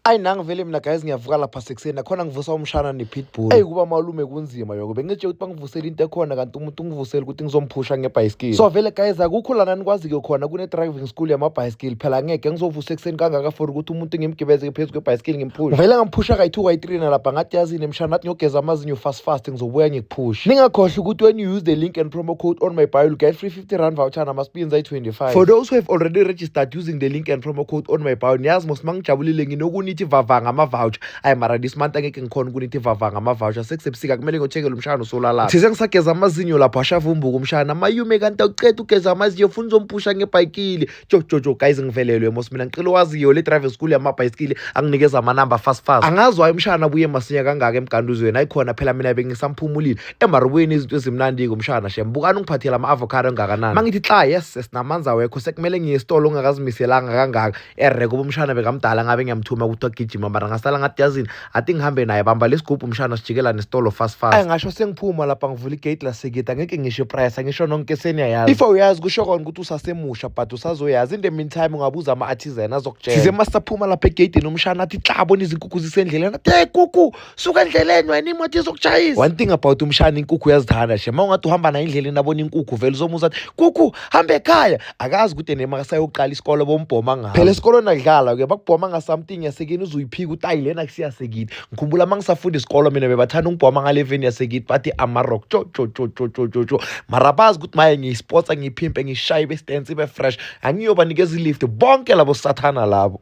Ayi nangi vele mina guys ngiyavuka lapha sekuseni nakhona ngivusa umshana ne-pitbull. Eyi kuba malume kunzima yoko bengitshe ukuthi bangivusele into ekhona kanti umuntu ungivusele ukuthi ngizomphusha ngebhayisikili. So vele guys akukho lana nikwazi-ke khona kune-driving school yamabhayisikili phela ngeke ngizovusa ekuseni kangaka for ukuthi umuntu ngimgibeze phezu kwebhayisikili ngimphushe. Vele ngamphusha kayi-two kayi-three nalapha ngathi yazini mshana nathi ngiyogeza amazinyo fast fast ngizobuya ngikuphushe. Ningakhohlwa ukuthi when you use the link and promo code on my bio you get free 50 rand voucher namaspins ayi-25 for those who have already registered using the link and promo code on my bio niyazi mos uma ngijabulile nginokunithi vava ngama-voucher ayi mara this month angeke ngikhona ukunithi vava ngama-voucher sekusebusika kumele ngiyotshekela umshana usolalapha thize ngisageza amazinyo lapho ashava umbuka umshana mayume kanti awuceda ugeza amazinyo funa uzompusha ngebhayikile jojojo guys ngivelelwe mos mina ngicela owaziyo le driving school yamabhayisikili anginikeza amanamba fast fast angazi wayo umshana abuye masinya kangaka emganduzweni ayikhona phela mina bengisamphumulile emarubweni izinto ezimnandi-ke umshana shem bukani ungiphathela ama-avocado engakanani mangithi xa yes sinamanza wekho sekumele ngiye esitolo ongakazimiselanga kangaka ereko bomshana bekamdala ngabe ngiyamthuma ukuthi agijima mara ngasala ngathi yazini athi ngihambe naye bamba lesigubhu mshana sijikela nesitolo fast fast angasho sengiphuma lapha ngivula igate lasekita ngeke ngisho iprice angisho nonke seniyayazi if uyazi kusho kona ukuthi usasemusha but usazoyazi in the meantime ungabuza ama-artisan azokutshela size masaphuma lapha egeyidini umshana athi tlabona izinkukhu zisendleleni athi hey kuku suka endleleni wena imoto izokushayisa one thing about umshana inkukhu uyazithanda she ma ungathi uhamba naye endleleni abona inkukhu vele uzomuza athi kuku hambe ekhaya akazi ukuthi nema kasayoqala isikole bombhoma ngayo phela esikolweni akudlalwa ke bakubhoma nga something yasekini uzuyiphika utayi lena kusiyasekini ngikhumbula uma ngisafunda isikolo mina bebathanda ungibhoma ngale veni yasekini bathi amarock cho cho cho cho cho cho cho mara bazi ukuthi maye ngiyisportsa ngiyiphimpe ngishaye bestance ibe fresh angiyobanikeza ilift bonke labo sathana labo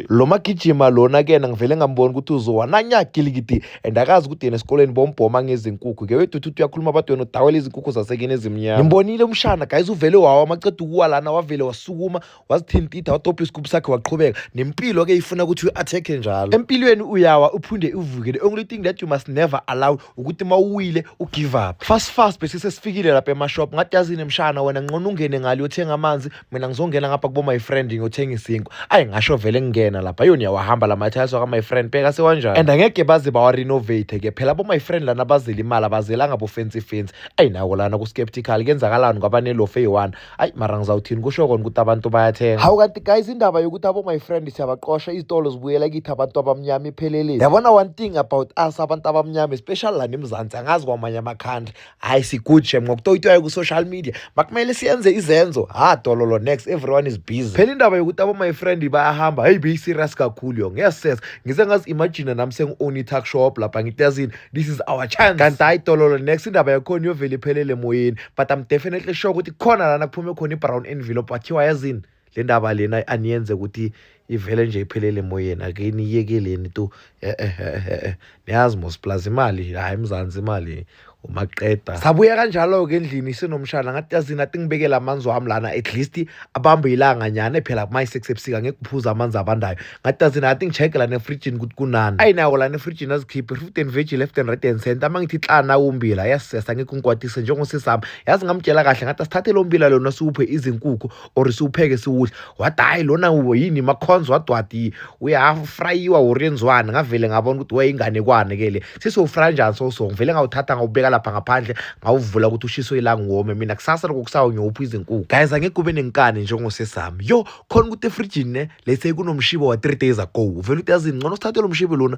lo magijima lona kena ngivele ngambona ukuthi uzowananya gilikidi and akazi ukuthi yena esikoleni bombhoma ngezinkukhu ke weduthuthi uyakhuluma abantu wena udawela izinkukhu zasekini ezimnyama ngimbonile umshana guys uvele wawa amaceda ukuwa lana wavele wasukuma wazithintitha wadobha isigubhu sakhe waqhubeka nempilo ke ifuna ukuthi uyi-athekhe njalo empilweni uyawa uphinde uvuke the only thing that you must never allow ukuthi uma uwile ugive up fast fast bese sesifikile lapha emashop ngathi yazini mshana wena nqona ungene ngale uyothenga amanzi mina ngizongena ngapha kubo my friend ngiyothenga isinkwa ayi ngasho vele ngingena lapha yona yawahamba la mathiles waka my friend bheka sewanjani and angeke baze bawarenovate ke phela bo my friend lana bazela imali abazela ngabo fancy fancy ayi nako lana ku skeptical kenzakalani ngoba nelofe eyi-one ayi mara ngizawuthini kusho kona ukuthi abantu bayathenga hawu kanti guys indaba yokuthi abo my friend siyabaqosha izitolo zibuyela kithi abantu abamnyama ipheleleni yabona one thing about us abantu abamnyama especially lana emzansi angazi kwamanye ama-country hayi si-good shem ngokutoyitoya ku-social media makumele siyenze izenzo ha dololo next everyone is busy phela indaba yokuthi abo-my friend bayahamba heyi beyi-serious kakhulu yo ngeses ngize ngazi-imagine nami sengi-own i-tuck shop lapha ngitezini this is our chance kanti hayi dololo next indaba yakhona iyovele iphelele emoyeni but i'm definitely sure ukuthi khona lana kuphume khona i-brown envelope wathiwa yazini le ndaba lena aniyenze ukuthi ivele nje iphelele emoyeni ake niyekeleni tu eh, eh, eh, niyazi mos plus imali hayi mzansi imali umaqeda sabuya kanjalo-ke endlini sinomshana ngathi yazini athi ngibekele amanzi wami lana at least abambe ilanga nyane phela kumayi-six ebusika ngeke kuphuza amanzi abandayo ngathi yazini athi ngi-check lana efrijini ukuthi kunani ayi nawo lana efrijini azikhiphe fruit and veg left and right and center uma ngithi xana umbila yasisesa ngeke ungikwatise njengosisami yazi ngamtshela kahle ngathi asithathe lo mbila lona siwuphe izinkukhu or siwupheke siwudle wathi hhayi lona yini makhonzo wadwadi uyafrayiwa or yenziwani ngavele ngabona ukuthi wayeyinganekwane ke le sisowufraya njani soso ngivele ngawuthatha ngawubeka lapha ngaphandle ngawuvula ukuthi ushiso ilanga uwome mina kusasa loko kusawo ngiyopha izinkukhu guys angeke kube nenkani njengosesami yo khona ukuthi efrijini ne lese kunomshibo wa-three days ago uvele ukuthi yazini ngcono sithathe lo mshibo lona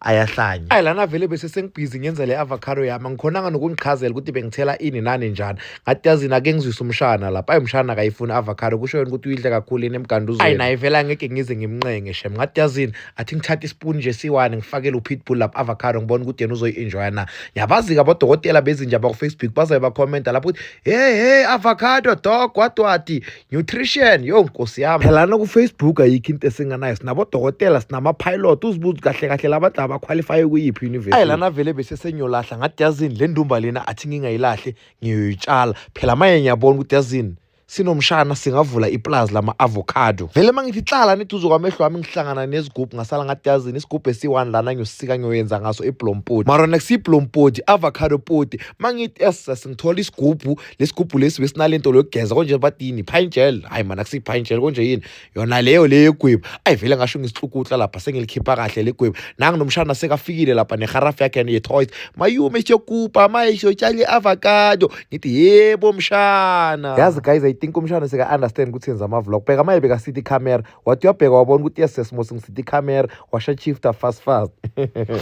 ayahlanya ayi lana vele bese sengibhizi ngenza le avocado yami angikhonanga nokungichazela ukuthi bengithela ini nani njani ngathi yazini ake ngizwise umshana lapha ayi umshana akayifuni avocado kusho yena ukuthi uyidle kakhulu yini emganduzweni ayi naye vele angeke ngize ngimnqenge shem ngathi yazini athi ngithathe ispoon nje siwane ngifakele upitbull lapha avocado ngibona ukuthi yena uzoyi-enjoya na yabazi-ke abodokotela bezinja bakufacebook bazabe bakhomenta lapho ukuthi hey hey avocado dog wadwadi nutrition yo nkosi yami phela nakufacebook ayikho into esinganayo sinabodokotela sinama-pilot uzibuzi kahle kahle labadla abakhwalifaye kuyiphi university ayi lana vele besesenyolahla ngathi yazini le ndumba lena athi ngingayilahle ngiyoyitshala phela manje ngiyabona ukuthi yazini sinomshana singavula ipulazi lama-avocado vele uma ngithi hlala niduze kwamehlo wami ngihlangana nezigubhu ngasala ngathi yazini isigubhu esiyi-one lana ngiyosika ngiyoyenza ngaso iblompoti mara next iblompoti avocado poti uma ngithi ss ngithola isigubhu lesigubhu lesi besinalento lokugeza konje badini pine gel hayi mana kusi pine gel konje yini yona leyo leyo yegwebu ayi vele ngasho ngisihlukuhla lapha sengilikhipha kahle legwebu nangu nomshana sekafikile lapha neharafu yakhe ye toys mayume siyokupa maye siyotshala avocado ngithi yebo mshana yazi guys i think umshana seka understand ukuthi yenza ama vlog bheka maye beka city camera wathi uyabheka wabona ukuthi yes sesimo singisitha ikhamera washa chifta fast fast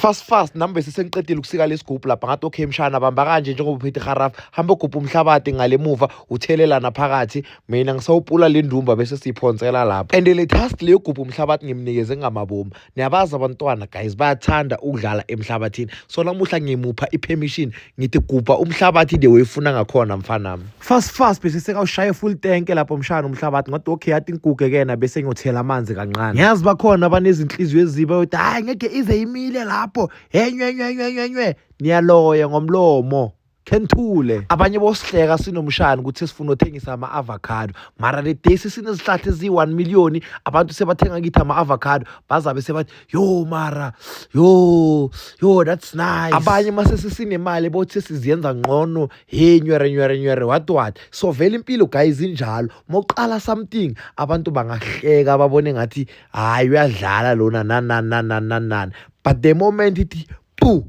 fast fast nami bese sengiqedile ukusika lesigubhu lapha ngathi okay mshana bamba kanje njengoba uphethe haraf hamba ugubha umhlabathi ngale muva uthelelana phakathi mina ngisawupula le ndumba bese siyiphonsela lapho and le task leyo gubha umhlabathi ngimnikeze ngamabomu niyabazi abantwana guys bayathanda ukudlala emhlabathini so namuhla ngimupha i-permission ngithi gubha umhlabathi the way ufuna ngakhona mfanami fast fast bese sekawushaye full tank lapho mshana umhlabathi ngathi okay yathi inkuke kena bese ngiyothela amanzi kancane ngiyazi bakhona abanezinhliziyo eziba yokuthi hayi ngeke ize imile lapho henywenywenywenywe niyaloya ngomlomo Kenthule abanye bosihleka sinomshana ukuthi sifuna uthengisa ama avocado mara le day sesinezihlahla ezi 1 million abantu sebathenga kithi ama avocado bazabe sebathi yo mara yo yo that's nice abanye mase sesinemali bothi siziyenza ngcono hey nywere nywere nywere what what so vele impilo guys injalo moqala something abantu bangahleka babone ngathi hayi uyadlala lona nanana nanana but the moment ithi pu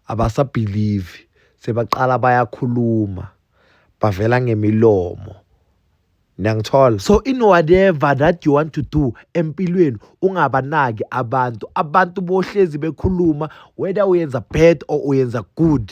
abasabhilivi sebaqala bayakhuluma bavela ngemilomo niyangithola so in whatever that you want to do empilweni ungabanaki abantu abantu bohlezi bekhuluma whether uyenza bad or uyenza good